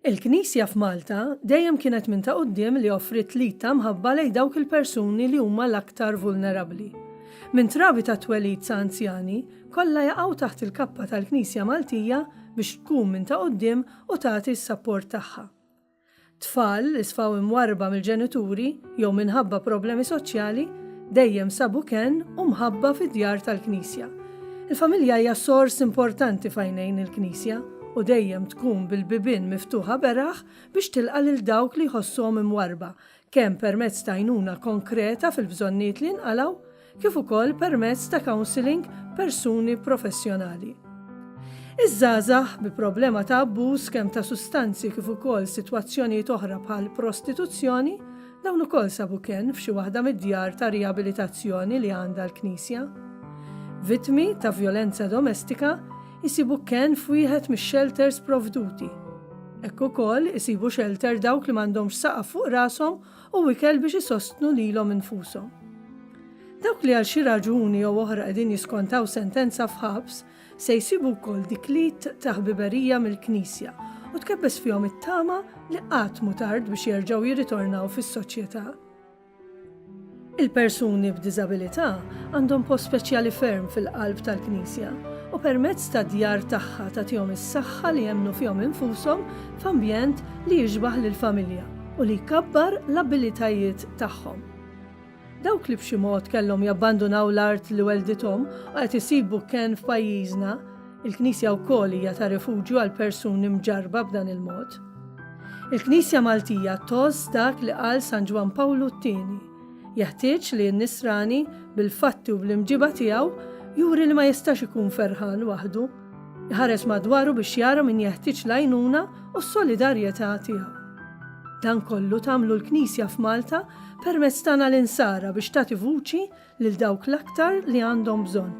Il-Knisja f'Malta dejjem kienet minn ta' quddiem li offriet l-id ta' mħabba lejn dawk il-persuni li huma l-aktar vulnerabbli. Minn trabi tat-twelid sa anzjani, kollha jaqgħu taħt il-kappa tal-Knisja Maltija biex tkun minn ta' quddiem u tagħti s-sapport tagħha. Tfal li sfaw imwarrba mill-ġenituri, jew minħabba problemi soċjali, dejjem sabu kenn u mħabba fid-djar tal-Knisja. Il-familja hija sors importanti f'għajnejn il-Knisja u dejjem tkun bil-bibien miftuħa beraħ biex tilqa' lil dawk li jħossuhom imwarrba, kemm permezz t'għajnuna konkreta fil-bżonnijiet li jinqalgħu, kif ukoll permezz ta' counselling persuni professjonali. Iż-żgħażagħ bi problema ta' abbuż kemm ta' sustanzi kif ukoll sitwazzjonijiet oħra bħal prostituzzjoni, dawn ukoll sabu kenn f'xi waħda mid-djar ta' riabilitazzjoni li għandha l-Knisja. Vittmi ta' vjolenza domestika jsibu kenn f'wieħed mix-xelters provduti. Hekk ukoll isibu xelter dawk li m'għandhomx saqaf fuq rashom u ikel biex isostnu lilhom infushom. Dawk li għal xi raġuni jew oħra qegħdin jiskontaw sentenza f'ħabs se jsibu wkoll dik l-id ta' ħbiberija mill-Knisja u tkebbes fihom it-tama li qatt mhu tard biex jerġgħu jirritornaw fis-soċjetà. Il-persuni b'diżabilità għandhom post speċjali ferm fil-qalb tal-Knisja u permezz tad-djar tagħha tagħtihom is-saħħa li jemmnu fihom infushom f'ambjent li jixbah lill-familja. u li jkabbar l-abilitajiet tagħhom. Dawk li b'xi mod kellhom jabbandunaw l-art li welldithom u qed isibu kenn f'pajjiżna, il-Knisja wkoll hija ta' rifuġju għal persuni mġarrba b'dan il-mod. Il-Knisja Maltija tgħożż dak li qal San Ġwann Pawlu t-Tieni, Jeħtieġ li n-Nisrani, bil-fatti u bl-imġiba tiegħu, juri li ma jistax ikun ferħan waħdu, Iħares madwaru biex jara min jeħtieġ l-għajnuna u s-solidarjetà tiegħu. Dan kollu tagħmlu l-Knisja f'Malta permezz tagħna l-Insara biex tagħti vuċi lil dawk l-aktar li għandhom bżonn.